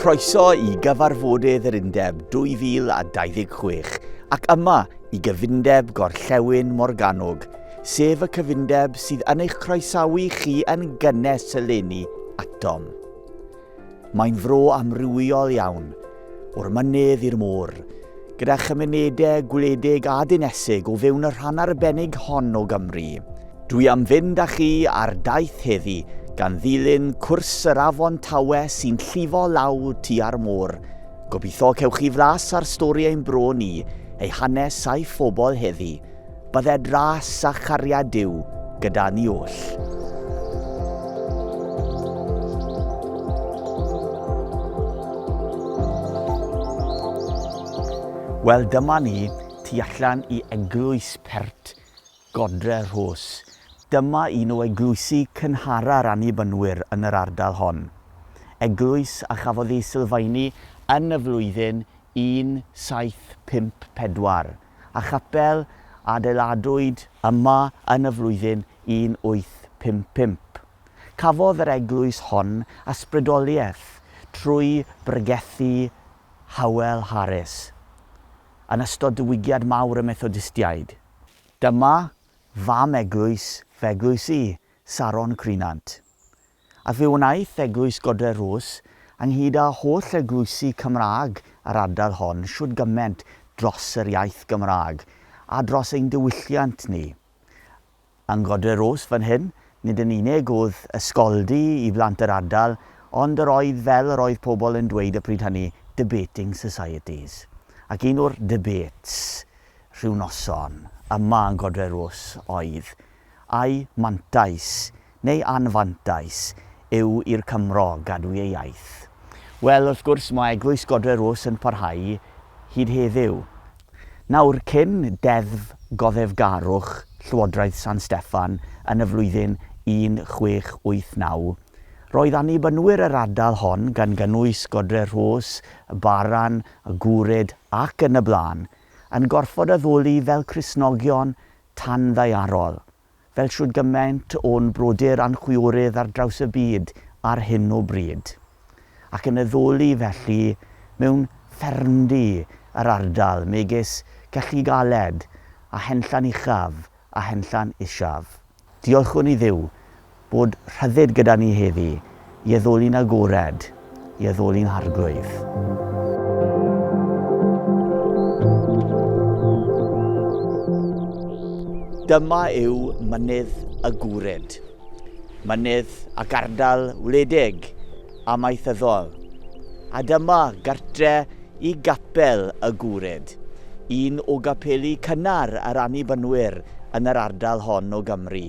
Croeso i gyfarfodydd yr Undeb 2026 ac yma i gyfundeb Gorllewin Morgannwg, sef y cyfundeb sydd yn eich croesawu chi yn gynnes eleni atom. Mae'n fro amrywiol iawn, o'r mynydd i'r môr, gyda chymunedau gwledig a dinesig o fewn y rhan arbennig hon o Gymru. Dwi am fynd â chi ar daith heddi gan ddilyn cwrs yr afon Tawe sy'n llifo lawr tua'r môr. Gobeithio cewch chi flas ar stori ein bro ni, ei hanes a'i phobl heddi. Bydde dras a chariad Duw gyda ni oll. Wel, dyma ni, tu allan i eglwys pert Godre Rhos. Dyma un o eglwysi cynhara'r annibynwyr yn yr ardal hon. Eglwys a chafodd ei sylfaenu yn y flwyddyn 1754. a chapel a adeiladwyd yma yn y flwyddyn 1855. Cafodd yr eglwys hon ysbrydoliaeth trwy bregethu Howell Harris yn ystod diwygiad mawr y Methodistiaid. Dyma fam eglwys f'eglwys i, Saron Crynant. a fe wnaeth Eglwys Godre'r Rhws, ynghyd â holl eglwysi Cymraeg yr ardal hon, shwd gyment dros yr iaith Gymraeg, a dros ein diwylliant ni. Yng Ngodre'r Rhws fan hyn, nid yn unig oedd ysgoldy i blant yr ardal, ond yr oedd, fel yr oedd pobl yn dweyd y pryd hynny, debating societies. Ac un o'r debates, rhyw noson, yma yng Ngodre'r Rhws oedd, Ai mantais neu anfantais yw i'r Cymro gadw ei iaith? Wel, wrth gwrs, mae Eglwys Godre'r Rhos yn parhau hyd heddiw. Nawr, cyn Deddf Goddefgarwch Llywodraeth San Steffan yn y flwyddyn 1689, roedd Annibynwyr yr ardal hon, gan gynnwys Godre'r Rhos, y Baran, y Gwrid ac yn y blaen, yn gorfod addoli fel Cristnogion tanddaearol, fel shwd gymaint o'n brodyr a'n chwiorydd ar draws y byd ar hyn o bryd, ac yn addoli felly mewn ffermdy yr ardal megis Celli Galed a Henllan Uchaf a Henllan Isaf. Diolchwn i Dduw, Bod rhyddid gyda ni heddi, i addoli'n agored, i addoli'n arglwydd. Dyma yw mynydd y gwryd, mynydd ac ardal wledig amaethyddol. A dyma gartre i gapel y gwryd, un o gapeli cynnar yr Annibynwyr yn yr ardal hon o Gymru.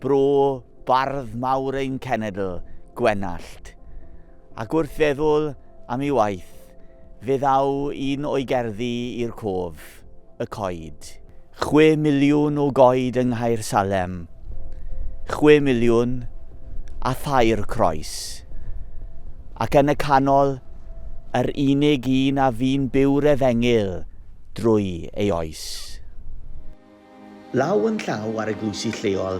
Bro bardd mawr ein cenedl, Gwenallt. Ac wrth feddwl am ei waith, fe ddaw un o'i gerddi i'r cof, Y Coed. Chwe miliwn o goed yng Nghaersalem, chwe miliwn a thair croes. Ac yn y canol, yr unig un a fu'n byw'r efengyl drwy ei oes. Law yn llaw â'r eglwysi lleol,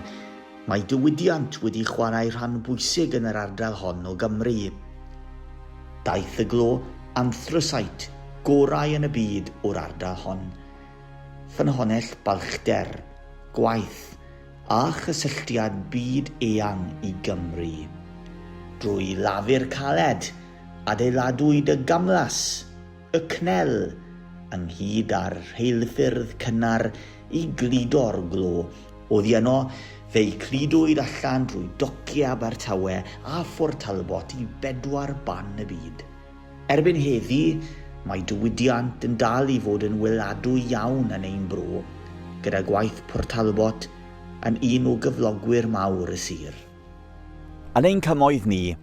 mae diwydiant wedi chwarae rhan bwysig yn yr ardal hon o Gymru. Daeth y glo anthraseit gorau yn y byd o'r ardal hon. Ffynhonnell balchder, gwaith, a chysylltiad byd eang i Gymru. Drwy lafur caled, adeiladwyd y gamlas, y CNEL, ynghyd â'r rheilffyrdd cynnar i gludo'r glo. Oddi yno, fe'i cludwyd allan drwy dociau Abertawe a Phort Talbot i bedwar ban y byd. Erbyn heddi, mae diwydiant yn dal i fod yn weladwy iawn yn ein bro, gyda gwaith Port Talbot yn un o gyflogwyr mawr y sir. Yn ein cymoedd ni,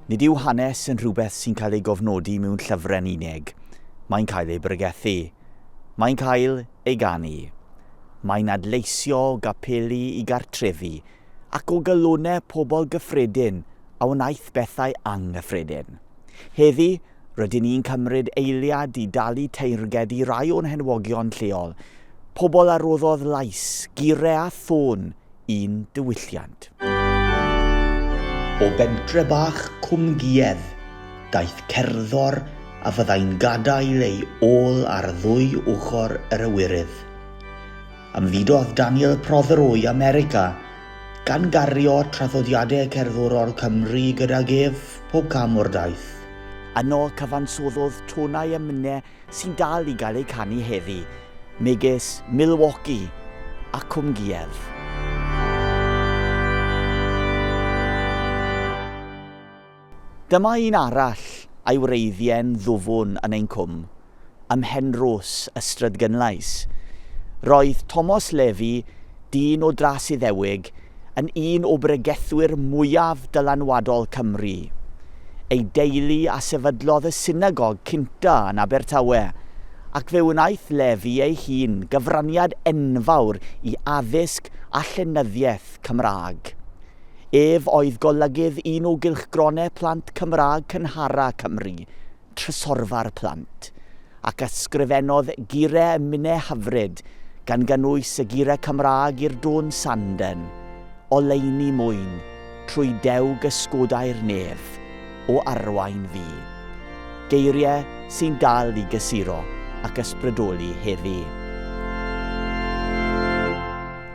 nid yw hanes yn rhywbeth sy'n cael ei gofnodi mewn llyfrau'n unig, mae'n cael ei bregethu, mae'n cael ei ganu, mae'n adleisio o gapeli i gartrefi ac o galonnau pobl gyffredin a wnaeth bethau anghyffredin. Heddi, Rydyn ni'n cymryd eiliad i dalu teyrnged i rai o'n henwogion lleol, pobl a roddodd lais, gure a thôn i'n diwylliant. O bentre bach Cwm Giedd daeth cerddor a fyddai'n gadael ei ôl ar ddwy ochr yr Ewyrydd. Ymfudodd Daniel Prothero i America, gan gario traddodiadau cerddorol Cymru gydag ef pob cam o'r daith. Yno cyfansoddodd tonau emynau sy'n dal i gael eu canu heddi, megis Milwaukee a Cwm Giev. Dyma un arall a'i wreiddie'n ddwfwn yn ein cwm, ym Mhenrhos, Ystrad Gynllais. Roedd Tomos Levi, dyn o dras Iddewig, yn un o bregethwyr mwyaf dylanwadol Cymru. Ei deulu a sefydlodd y synagog cynta yn Abertawe, ac fe wnaeth Levi ei hun gyfraniad enfawr i addysg a llenyddiaeth Cymraeg. Ef oedd golygydd un o gylchgronau plant Cymraeg cynhara Cymru, Trysorfa'r Plant, ac ysgrifennodd gyrau ym minnau hyfryd, gan gynnwys y gyrau Cymraeg i'r dôn Sanden, Oleuni mwyn, trwy dewg ysgodau'r nef, o arwain fi. Geiriau sy'n dal i gysuro ac ysbrydoli heddi.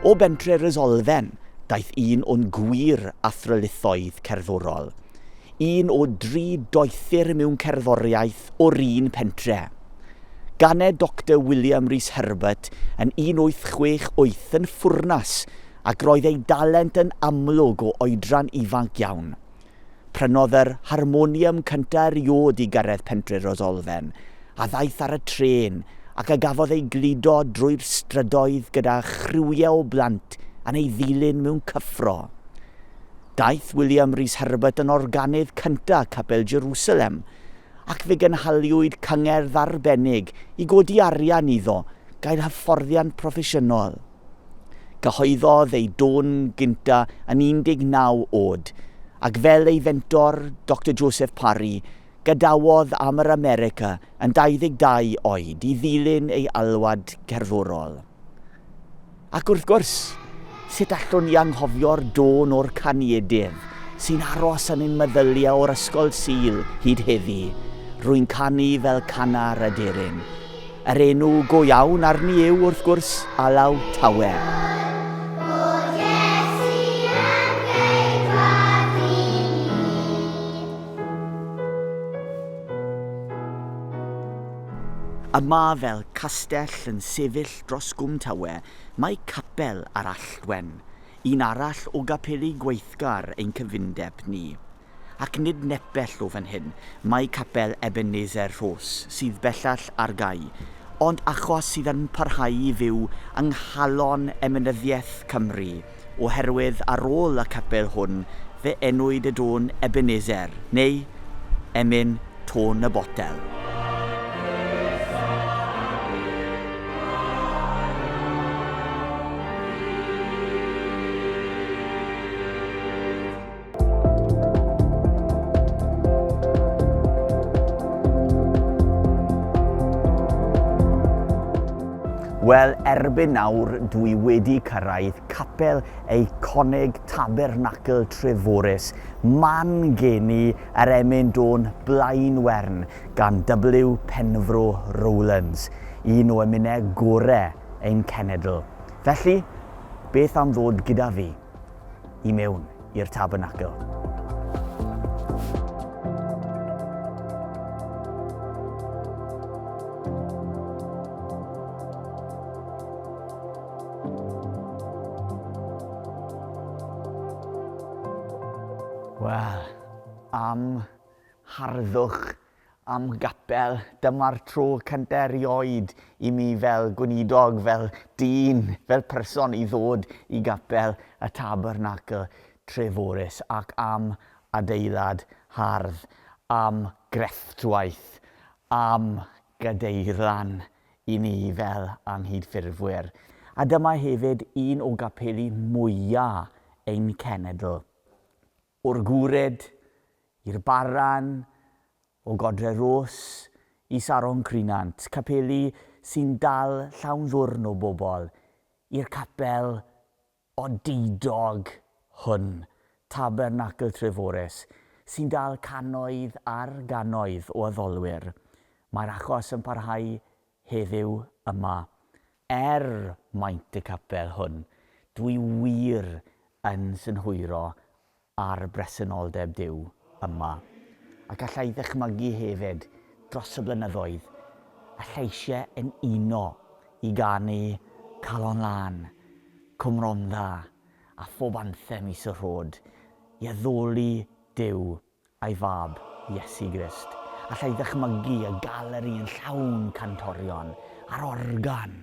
O bentre Rysolfen, Daeth un o'n gwir athrylithoedd cerddorol, un o dri doethur mewn cerddoriaeth o'r un pentre. Ganed Doctor William Rees Herbert yn 1868 yn Ffwrnas ac roedd ei dalent yn amlwg o oedran ifanc iawn. Prynodd yr harmonium cynta eriôd i Gareth Pentre'r Osolfen, a ddaeth ar y trên, ac a gafodd ei gludo drwy'r strydoedd gyda chriwiau o blant yn ei ddilyn mewn cyffro. Daeth William Rhys Herbert yn organydd cynta Capel Jerusalem, ac fe gynhaliwyd cyngerdd arbennig i godi arian iddo gael hyfforddiant proffesiynol. Cyhoeddodd ei dôn gynta yn 19 oed, ac fel ei fentor, Doctor Joseph Parry, gadawodd am yr America yn 22 oed i ddilyn ei alwad cerddorol. Ac wrth gwrs, sut allwn ni anghofio'r dôn o'r caniedydd, sy'n aros yn ein meddyliau o'r Ysgol Sul hyd heddi, Rwy'n canu fel cannar aderyn. Yr enw go iawn arni yw, wrth gwrs, Alaw Tawe. A ma fel castell yn sefyll dros Gwm Tawe, mae capel ar Alltwen, un arall o gapeli gweithgar ein cyfundeb ni. Ac nid nepell o fan hyn mae capel Ebenezer Rhos, sydd bellach ar gau, ond achos sydd yn parhau i fyw yng nghalon emynyddiaeth Cymru, oherwydd ar ôl y capel hwn fe enwyd y dôn Ebenezer, neu Emyn Tôn y Botel. Wel, erbyn nawr dwi wedi cyrraedd capel eiconig Tabernacl Treforys, man geni yr emyn dôn blaen wern gan W. Penfro Rowlands, un o emynau gorau ein cenedl. Felly, beth am ddod gyda fi? i mewn i'r tabernacl. Wel, am harddwch am gapel, dyma'r tro cyntaf erioed i mi fel gweinidog, fel dyn, fel person i ddod i gapel y Tabernacl Treforys ac am adeilad hardd, am grefftwaith, am gadeirlan i ni fel anghydffurfwyr. A dyma hefyd un o gapeli mwya' ein cenedl. O'r Goured i'r Barran, o Godre Ros i Saron Crynant, capeli sy'n dal llawn ddwrn o bobl, i'r capel odidog hwn, Tabernacl Treforys, sy'n dal cannoedd ar gannoedd o addolwyr. Mae'r achos yn parhau heddiw yma, er maint y capel hwn, dwi wir yn synhwyro ar bresenoldeb Duw yma. Ac alla i ddychmygu hefyd, dros y blynyddoedd, y lleisiau yn uno i ganu Calon Lân, Cwm Rondda, a phob anthem is y rhod, i addoli Duw Ei fab, Iesu Grist. Alla i ddychmygu y galeri yn llawn cantorion a'r organ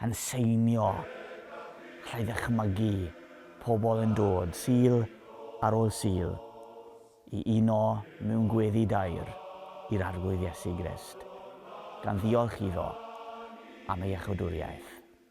yn seinio. Alla i ddychmygu pobl yn dod, Sul ar ôl Sul, i uno mewn gweddi daer i'r Arglwydd Iesu Grist, gan ddiolch iddo am ei iachawdwriaeth.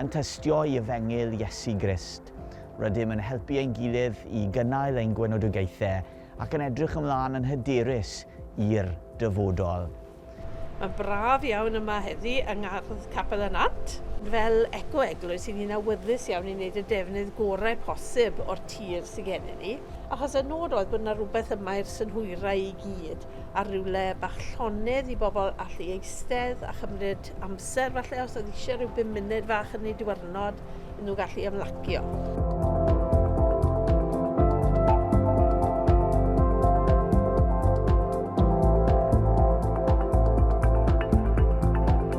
Yn tystio i Efengyl Iesu Grist, rydym yn helpu ein gilydd i gynnal ein gwenodogaethau ac yn edrych ymlaen yn hyderus i'r dyfodol. Mae'n braf iawn yma heddi yng Ngardd Capel y Nant. Fel eco-eglwys, i ni'n awyddus iawn i wneud y defnydd gorau posib o'r tir sy gennym ni, achos y nod oedd bod 'na rywbeth yma i'r synhwyrau i gyd. ar rywle bach llonydd i bobl allu eistedd a chymryd amser falle os oedd eisiau rhyw bum munud fach yn ei diwrnod i nhw gallu ymlacio.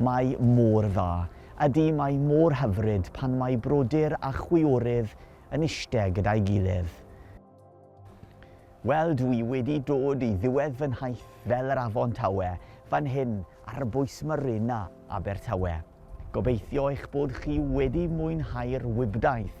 Mae mor dda. Ydy, mae mor hyfryd pan mae brodyr a chwiorydd yn iste gyda'i gilydd. Wel, dw i wedi dod i ddiwedd fy nhaith fel yr Afon Tawe, fan hyn ar bwys Marina Abertawe. Gobeithio eich bod chi wedi mwynhau'r wibdaith.